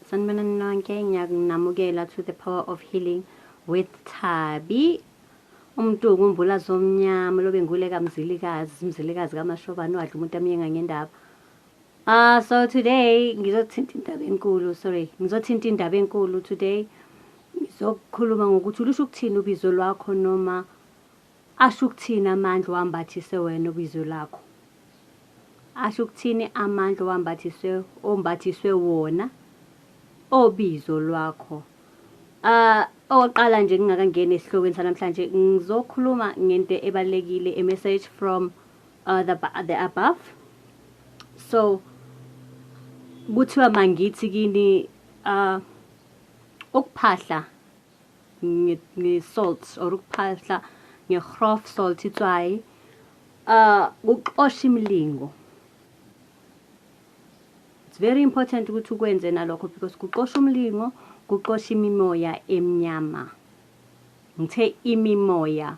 Sanibona ninonke ngiyakunamukela to the power of healing with Thabi umuntu ukumbula zomnyama lobe ngule kamzilikazi umzilikazi kamashobani wadla umuntu amyenga ngendaba Ah uh, so today ngizothinta indaba enkulu sorry ngizothinta indaba enkulu today ngizokukhuluma ngokuthi ulusho ukuthini ubizo lwakho noma Asho ukuthini amandla owambathiswe wena obizwe lakho? Asho ukuthini amandla owambathiswe ombathiswe wona obizo lwakho? Ah, okokuqala nje ngingakangeni esihlokweni sanamhlanje ngizokhuluma ngento ebalekile a message from uh, the, the above. So kuthiwa mangithi kini uh, ukuphahla nge-salt or ukuphahla nge-grof salt itswayi uh ukuxosha imilingo it's very important ukuthi ukwenze nalokho because kuxosha umlingo kuxosha imimoya emnyama ngithe imimoya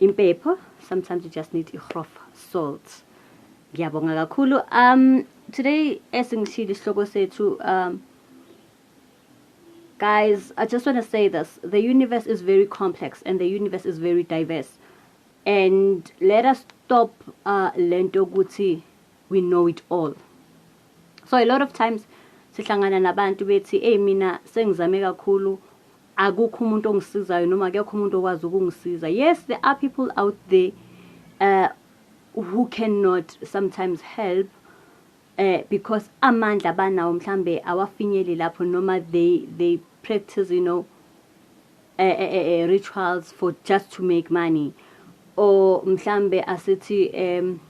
Impepho sometimes you just need igrof salt. Ngiyabonga kakhulu. Um today esingishilo isihloko sethu um guys, I just want to say this. The universe is very complex and the universe is very diverse. And let us stop uh lento ukuthi we know it all. So a lot of times sihlangana nabantu bethi hey mina sengizame kakhulu Akukho umuntu ongisizayo noma akekho umuntu okwazi ukungisiza. Yes, there are people out there uh, who cannot sometimes help eh because amandla banawo mhlambe awafinyeli lapho noma they they practice you know uh, uh, uh, rituals for just to make money or mhlambe asithi um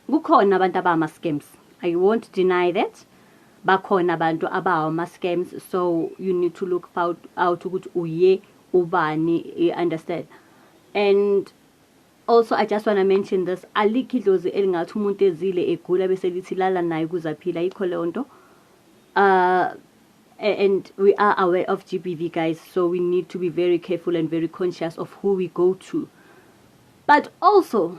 Kukhona abantu abama scams. I won't deny that. Bakhona abantu abawa ma scams so you need to look out, out ukuthi uye ubani, you understand. And also i just want to mention this alikho idlozi elingathi umuntu ezile egula bese lithi lala naye ukuze aphile ayikho leyo nto uh, and we are aware of gbv guys so we need to be very careful and very conscious of who we go to but also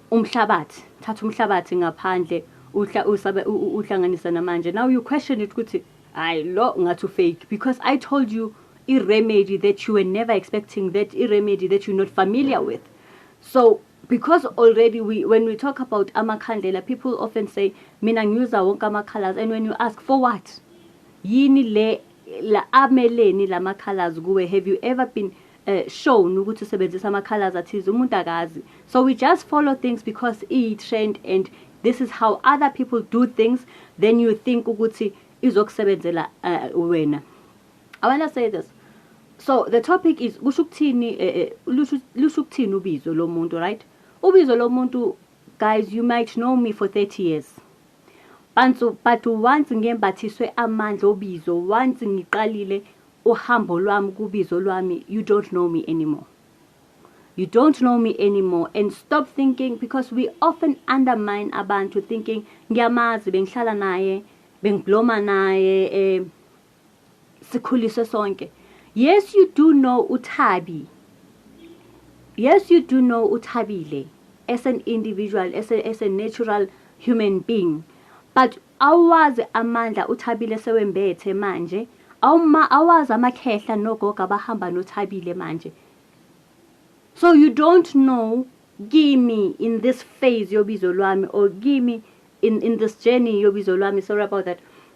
umhlabathi thatha umhlabathi ngaphandle uhla usabe uhlanganisa namanje now you question it ukuthi hayi lo ngathi ufake because i told you i-remedy that you were never expecting that i-remedy that you're not familiar with so because already we when we talk about amakhandlela people often say mina ngiuza wonke amakhalas and when you ask for what yini le la ameleni lama colors kuwe have you ever been uh, shown ukuthi usebenzisa ama-colors athize umuntu akazi so we just follow things because iyi-trend and this is how other people do things then you think ukuthi izokusebenzela uh, wena i want to say this so the topic is kusho ukuthini eh, lusho ukuthini ubizo lomuntu right ubizo lomuntu guys you might know me for 30 years Pantsu, but once ngembathiswe amandla obizo, once ngiqalile uhambo lwami kubizo lwami, you don't know me anymore. You don't know me anymore and stop thinking because we often undermine abantu thinking ngiyamazi bengihlala naye bengibloma naye eh sikhuliswe sonke yes you do know uthabi yes you do know uthabile as an individual as a, as a natural human being but awazi amandla uthabile sewembethe manje awuma awazi amakhehla nogogo abahamba nothabile manje so you don't know kimi in this phase yobizo lwami or kimi in, in this journey yobizo lwami sorry about that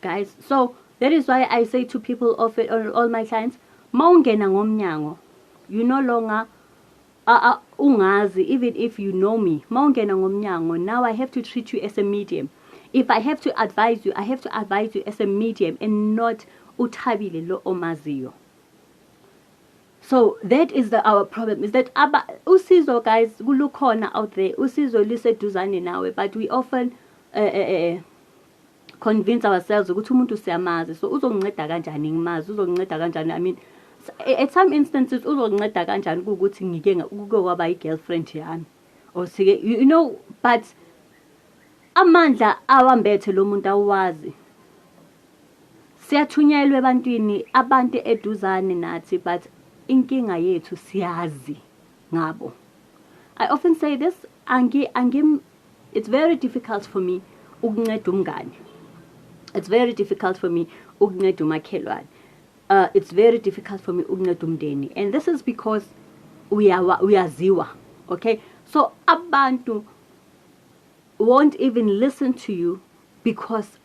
guys so that is why i say to people of it, all, all my clients mawungena ngomnyango you no longer uh, uh, ungazi even if you know me mawungena ngomnyango now i have to treat you as a medium if i have to advise you i have to advise you as a medium and not uthabile lo omaziyo So that is the our problem is that aba usizo guys kulukhona out there usizo liseduzane nawe but we often uh, uh, uh, convince ourselves ukuthi umuntu siyamazi so uzonginceda kanjani ngimazi uzonginceda kanjani i mean at some instances uzonginceda kanjani ukuthi ngike kuke kwaba i-girlfriend yami or sike you know but amandla awambethe lo muntu awazi Siyathunyelwa ebantwini abantu eduzane nathi but inkinga yethu siyazi ngabo. I often say this angi angi it's very difficult for me ukunceda umngane. It's very difficult for me ukunceda umakhelwane. Uh it's very difficult for me ukunceda umndeni and this is because uyawa uyaziwa. Okay? So abantu won't even listen to you because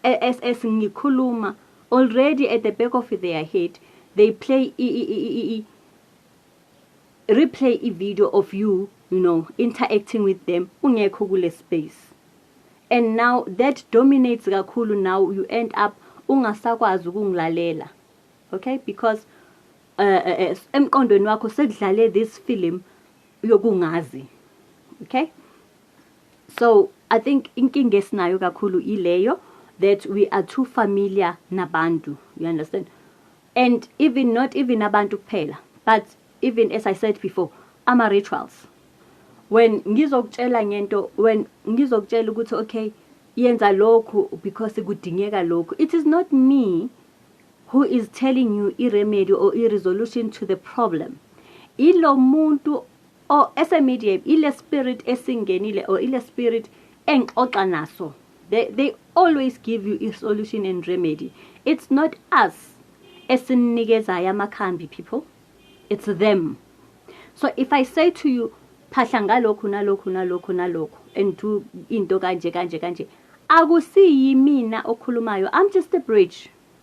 as as ngikhuluma already at the back of their head they play i, i, i, i replay i video of you you know interacting with them ungekho kule space and now that dominates kakhulu now you end up ungasakwazi ukungilalela okay because uh, uh, emqondweni wakho sekudlale this film yokungazi okay so i think inkinga esinayo kakhulu ileyo that we are too familiar nabantu you understand and even not even abantu kuphela but even as i said before ama-rituals when ngizokutshela ngento when ngizokutshela ukuthi okay yenza lokhu because kudingeka lokhu it is not me who is telling you i-remedy or i-resolution to the problem ilo muntu or ese media ile spirit esingenile or ile spirit engixoxa naso they, they always give you a solution and remedy it's not us esinikezayo amakhambi people it's them so if i say to you phahla ngalokhu nalokhu nalokhu nalokhu and do into kanje kanje kanje akusiyimina okhulumayo i'm just a bridge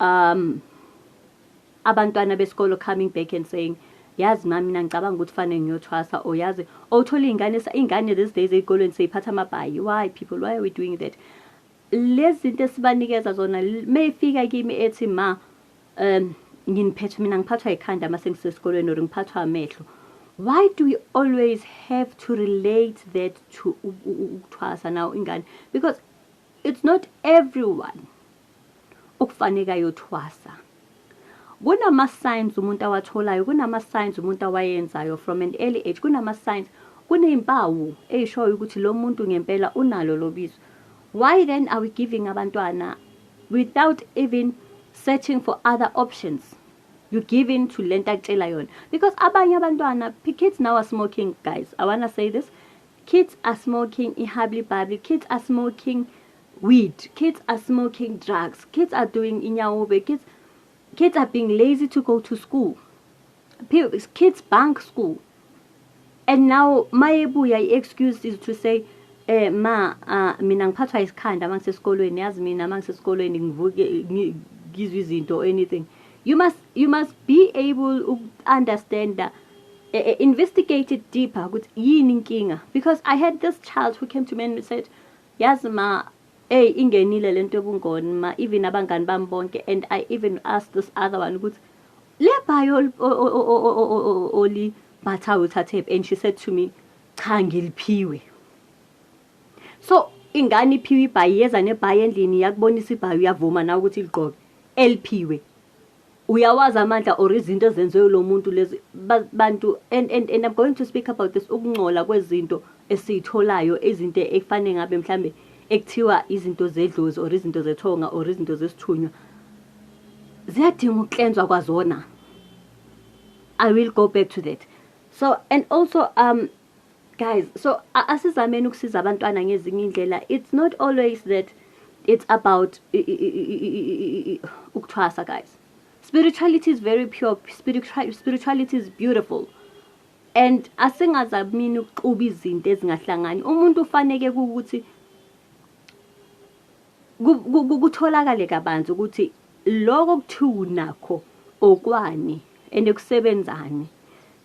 Um abantwana besikolo coming back and saying yazi mami mina ngicabanga ukuthi fanele ngiyothwasa or yazi owuthola iy'ngane iy'ngane these days ey'kolweni seyiphatha amabhayi why people why are we doing that lezi zinto esibanikeza zona meyifika kimi ethi ma um nginiphethe mina ngiphathwa yikhanda uma sengisesikolweni or ngiphathwa amehlo why do we always have to relate that to ukuthwasa nawo ingane because it's not everyone Okufaneka yothwasa. Kunama signs umuntu awatholayo, kunama signs umuntu awayenzayo from an early age, kunama signs kunezimpawu ezishoyo ukuthi lo muntu ngempela unalo lobizo. Why then are we giving abantwana without even searching for other options? You give in to lento akutshela yona because abanye abantwana kids now are smoking guys. I wanna say this. Kids are smoking ihabli babli, kids are smoking weed kids are smoking drugs kids are doing inyawobe kids kids are being lazy to go to school kids bank school and now mayebuya i-excuse is to say eh ma uh, mina ngiphathwa isikhanda uma ngisesikolweni yazi mina uma ngisesikolweni ngivuke ngizwe izinto anything you must you must be able to understand that uh, eh, eh, investigate it deeper ukuthi yini inkinga because i had this child who came to me and said Yazi ma ey ingenile lento yobungoni ma even abangani bami bonke and I even ask this other one ukuthi lebhayi olibhathayo uthathephi and she said to me cha ngiliphiwe so ingane iphiwe ibhayi yeza nebhayi endlini yakubonisa ibhayi uyavuma nawe ukuthi ligqoke eliphiwe uyawazi amandla or izinto ezenziwe lo muntu lezi bantu and, and, and i'm going to speak about this ukungcola kwezinto esiyitholayo izinto ekufanele ngabe mhlambe ekuthiwa izinto zedlozi or izinto zethonga or izinto zesithunywa ziyadinga ukuklenzwa kwazona i will go back to that so and also um guys so asizameni ukusiza abantwana ngezinye indlela it's not always that it's about ukuthwasa guys spirituality is very pure spirituality is beautiful and asingazamini ukuxuba izinto ezingahlangani umuntu ufaneke ukuthi kutholakale kabanzi ukuthi lokho kuthiwa unakho okwani and ekusebenzani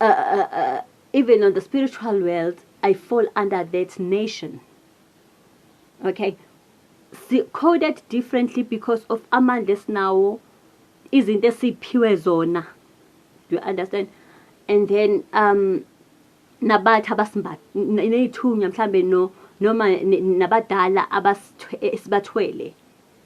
Uh, uh, uh, even on the spiritual world, I fall under that nation. Okay, si coded differently because of amandla esinawo izinto esiphiwe zona you understand and then um nabathi abasimbatha neyithunywa mhlambe no noma nabadala esibathwele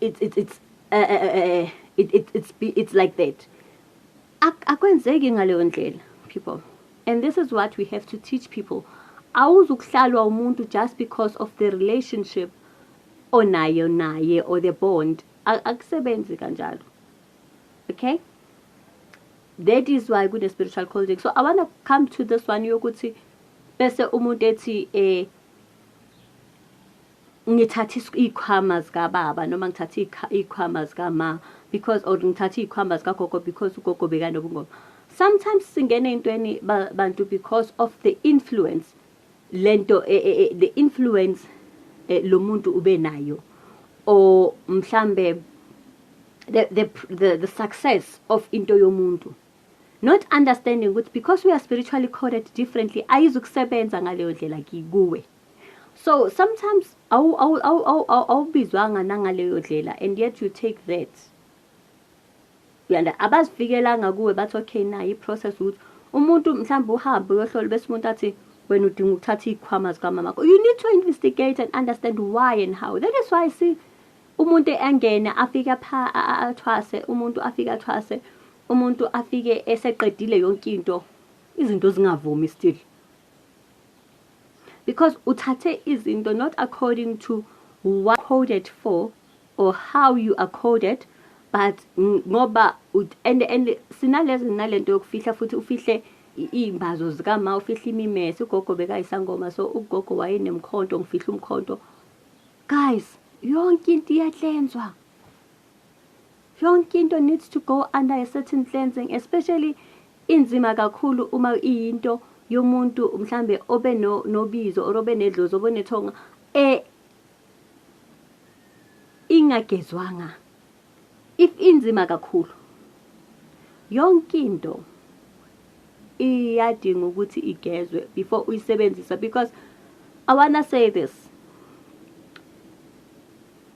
it's it's it's uh, uh, uh, it, it, it's it's like that akwenzeki ngaleyo ndlela people and this is what we have to teach people awuzukuhlalwa umuntu just because of the relationship onayo naye or the bond akusebenzi kanjalo okay that is why kune-spiritual colding so i want to come to this one yokuthi bese umuntu ethi um eh, ngithathe iy'khwama zikababa noma ngithathe iy'khwama zikama because or ngithathe iy'khwama zikagogo because ugogo bekanobungoma sometimes singena ey'ntweni bantu because of the influence le nto e, e, e, the influence lo muntu ube nayo or mhlambe the, the, the, the success of into yomuntu not understanding ukuthi because we are spiritually coded differently ayizukusebenza ngaleyo ndlela kuwe so sometimes awubizwanga nangaleyo ndlela and yet you take that uyanda abazifikelanga kuwe bathi okay na i-process ukuthi umuntu mhlawumbe uhambe uyohlola bese umuntu athi wena udinga ukuthatha iy'khwama zikamama you need to investigate and understand why and how that is why see umuntu engene afike athwase umuntu afike athwase umuntu afike eseqedile yonke into izinto zingavumi still because uthathe izinto not according to what coded for or how you are coded but ngoba and and sinalezi nalento yokufihla futhi ufihle iy'mbazo zikama ufihle imimese ugogo bekayisangoma so ugogo wayenemkhonto ngifihle umkhonto guys yonke into iyahlenzwa Yonke into needs to go under a certain cleansing especially inzima kakhulu uma iyinto yomuntu mhlambe obe no nobizo or obe nedlozi obe nethonga e ingagezwanga if inzima kakhulu yonke into iyadinga ukuthi igezwe before uyisebenzisa because i wanna say this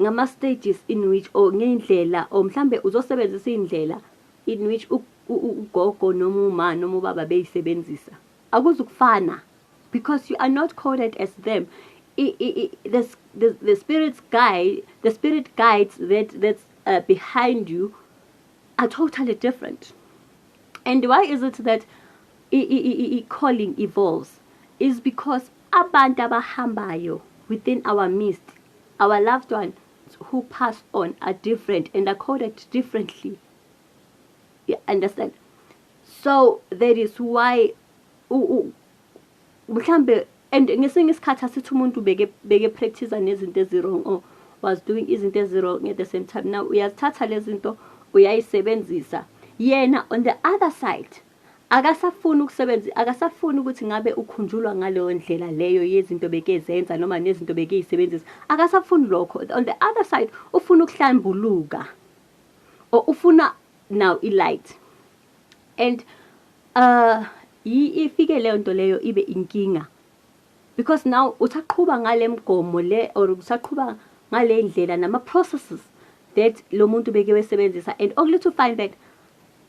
Ngama stages in which or ngeyndlela or mhlambe uzosebenzisa iyndlela in which ugogo noma uma noma ubaba beyisebenzisa akuzukufana because you are not coded as them I, I, I, the, the, the spirit's guide the spirit guides that that's uh, behind you are totally different and why is it that i, I, I, I calling evolves is because Abantu abahambayo within our midst, our loved ones who pass on are different and are coded differently. You understand? So that is why mhlambe and ngesinye isikhathi asithi umuntu beke beke practice nezinto ezirong or was doing izinto ezirong at the same time now uyazithatha lezi zinto uyayisebenzisa yena on the other side Akasafuni ukusebenza, akasafuni ukuthi ngabe ukhunjulwa ngaleyo ndlela leyo yezinto bekezenza noma nezinto bekeyisebenzisa. Akasafuni lokho. On the other side, ufuna ukuhlambuluka. Or ufuna now i-light. And uh ifike leyo nto leyo ibe inkinga. Because now usaqhuba ngale mgomo le or usaqhuba ngale ndlela nama processes that lo muntu beke wesebenzisa and only to find that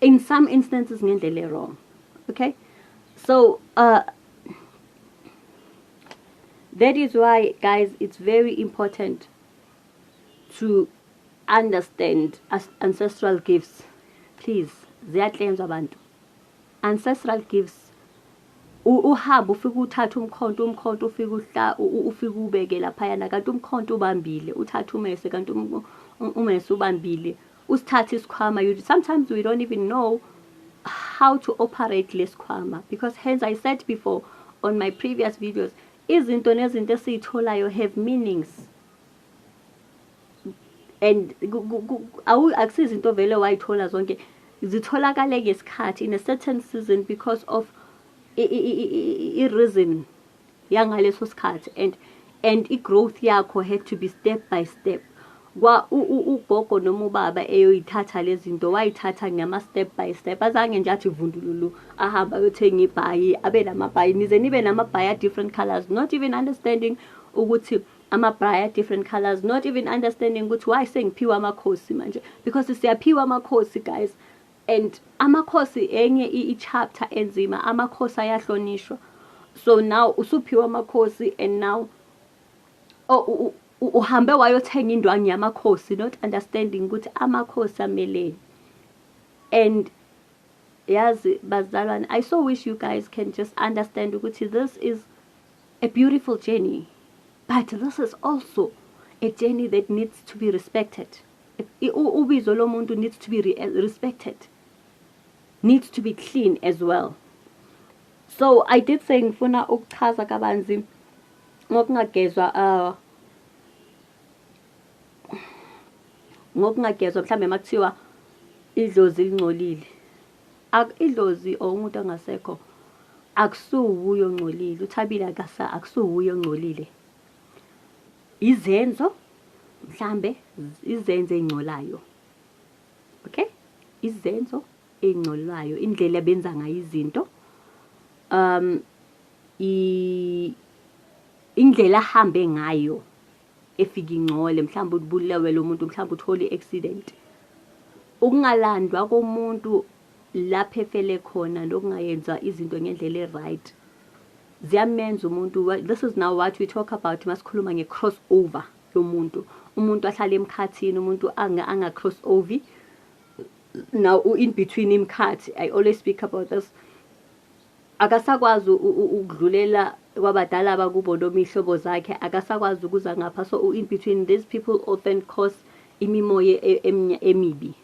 in some instances ngendlela ewrong okay so uh that is why guys it's very important to understand ancestral gifts please ziyahlenzwa abantu ancestral gifts uhamba ufike uthatha umkhonto umkhonto ufike uhla ufike ubeke laphayana kanti umkhonto ubambile uthatha umese kanti um, um, umese ubambile usithathe isikhwama you sometimes we don't even know how to operate lesikhwama because hence i said before on my previous videos izinto nezinto esiyitholayo have meanings and akusizinto vele wayithola zonke zitholakale ngesikhathi in a certain season because of i-reason yangaleso sikhathi and and i-growth yakho had to be step by step kwa ugogo noma ubaba eyoyithatha lezi zinto wayithatha ngama-step by step azange nje athi vundululu ahambe ayothenga ibhayi abe namabhayi nize nibe namabhayi a-different colors not even understanding ukuthi amabhayi a-different colors not even understanding ukuthi why sengiphiwe amakhosi manje because siyaphiwa amakhosi guys And amakhosi enye i chapter enzima amakhosi ayahlonishwa so now usuphiwa amakhosi and now oh, uhambe wayothenga indwangu yamakhosi not understanding ukuthi amakhosi ameleni and yazi bazalwane i so wish you guys can just understand ukuthi this is a beautiful journey but this is also a journey that needs to be respected ubizo lomuntu needs to be re eh, respected needs to be clean as well so i did say ngifuna ukuchaza kabanzi ngokungagezwa uh, ngokungagezwa mhlawumbe uma kuthiwa idlozi lingcolile idlozi or umuntu ongasekho akusuwuye ongcolile uthabile akasa akusuwuye ongcolile izenzo mhlambe izenzo ey'ngcolayo okay izenzo ey'ngcolwayo indlela ebenza ngayo izinto um indlela ahambe ngayo efika ingcole mhlawumbe ubulewe lo muntu mhlawumbe uthole i-accident ukungalandwa komuntu lapho efele khona nokungayenza izinto ngendlela e-right ziyamenza umuntu this is now what we talk about masikhuluma nge-cross over yomuntu umuntu ahlale emkhathini umuntu anga-cross anga over now in between imkhathi i always speak about this akasakwazi ukudlulela kwabadala bakubo noma iy'hlobo zakhe akasakwazi ukuza ngapha so in between these people often cause imimoya e, emibi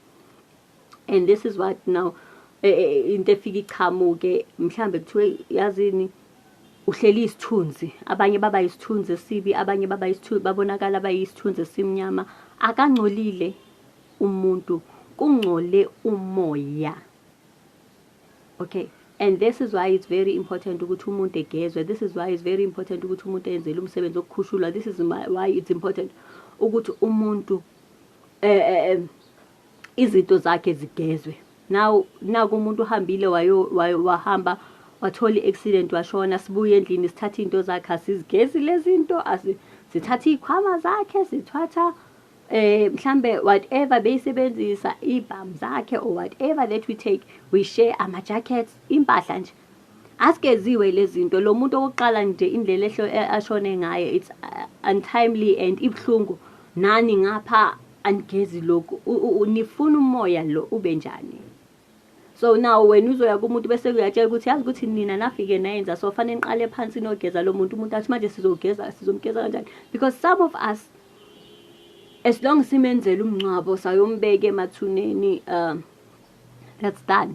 and this is what now eh, eh, eh, into efika ichamuke mhlambe kuthiwe yazini uhleli isithunzi abanye baba isithunzi esibi abanye baba isithunzi babonakala bayisithunzi esimnyama akangcolile umuntu kungcole umoya okay and this is why it's very important ukuthi umuntu egezwe this is why it's very important ukuthi umuntu enzele umsebenzi okukhushulwa this is why it's important ukuthi umuntu eh, eh, eh izinto zakhe zigezwe now naku umuntu uhambile wayo wahamba wathola i-accident washona sibuye endlini sithatha iy'nto zakhe asizigezi lezi nto sithatha iy'khwama zakhe sithatha eh mhlambe whatever beyisebenzisa ibhamu zakhe or whatever that we take we share ama-jackets impahla nje Asikeziwe lezinto lo muntu okokuqala nje indlela ehlo e, ashone ngayo it's uh, untimely and ibhlungu nani ngapha anigezi lokhu nifuna umoya lo ube njani so now wena uzoya kumuntu bese uyatshela ukuthi yazi ukuthi nina nafike nayenza so fanele niqale phansi nogeza lo muntu umuntu athi manje sizogeza sizomgeza kanjani because some of us as long simenzela umngcwabo sayombeke emathuneni um that's done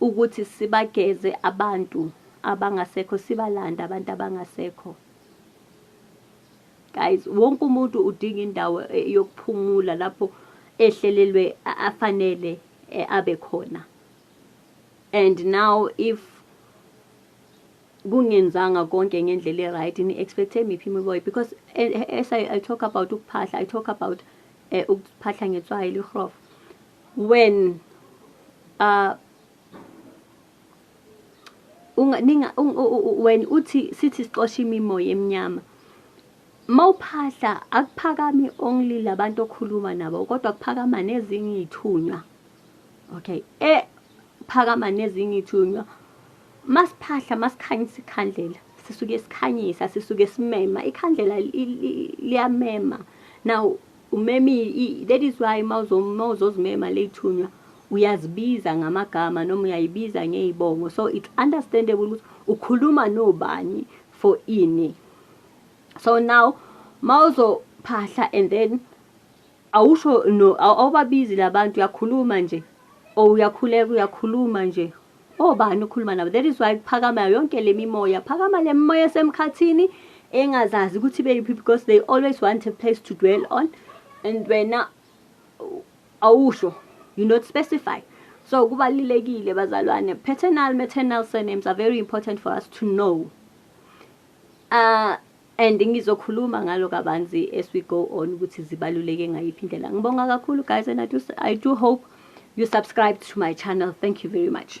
ukuthi sibageze abantu abangasekho sibalande abantu abangasekho guys wonke umuntu udinga indawo eh, yokuphumula lapho ehlelelwe afanele eh, abe khona and now if kungenzanga konke ngendlela e-right ni-expecthe miphi imiboyi because eh, as I, I talk about ukuphahla i talk about um ukuphahla ngetswayi lihrofa when uh unga ninga when uthi sithi sixosha imimoya emnyama mawuphahla akuphakami only labantu okhuluma nabo kodwa kuphakama nezinye izithunywa okay e phakama nezinye izithunywa masiphahla masikhanyisa ikhandlela sisuke sikhanyisa sisuke simema ikhandlela liyamema now Umemi, that is why mawuzozimema leyithunywa uyazibiza ngamagama noma uyayibiza ngeyibongo so it's understandable ukuthi ukhuluma nobani for ini so now mawuzophahla and then awusho no awubabizi labantu uyakhuluma nje or uyakhuleka uyakhuluma nje Obani ukhuluma nabo that is why kuphakama yonke le mimoya phakama le mimoya esemkhathini engazazi ukuthi beyiphi because they always want a place to dwell on and wena awusho you not specify so kubalulekile bazalwane paternal maternal surnames are very important for us to know uh, and ngizokhuluma ngalo kabanzi as we go on ukuthi zibaluleke ngayiphi indlela ngibonga kakhulu guys and I do, I do hope you subscribe to my channel thank you very much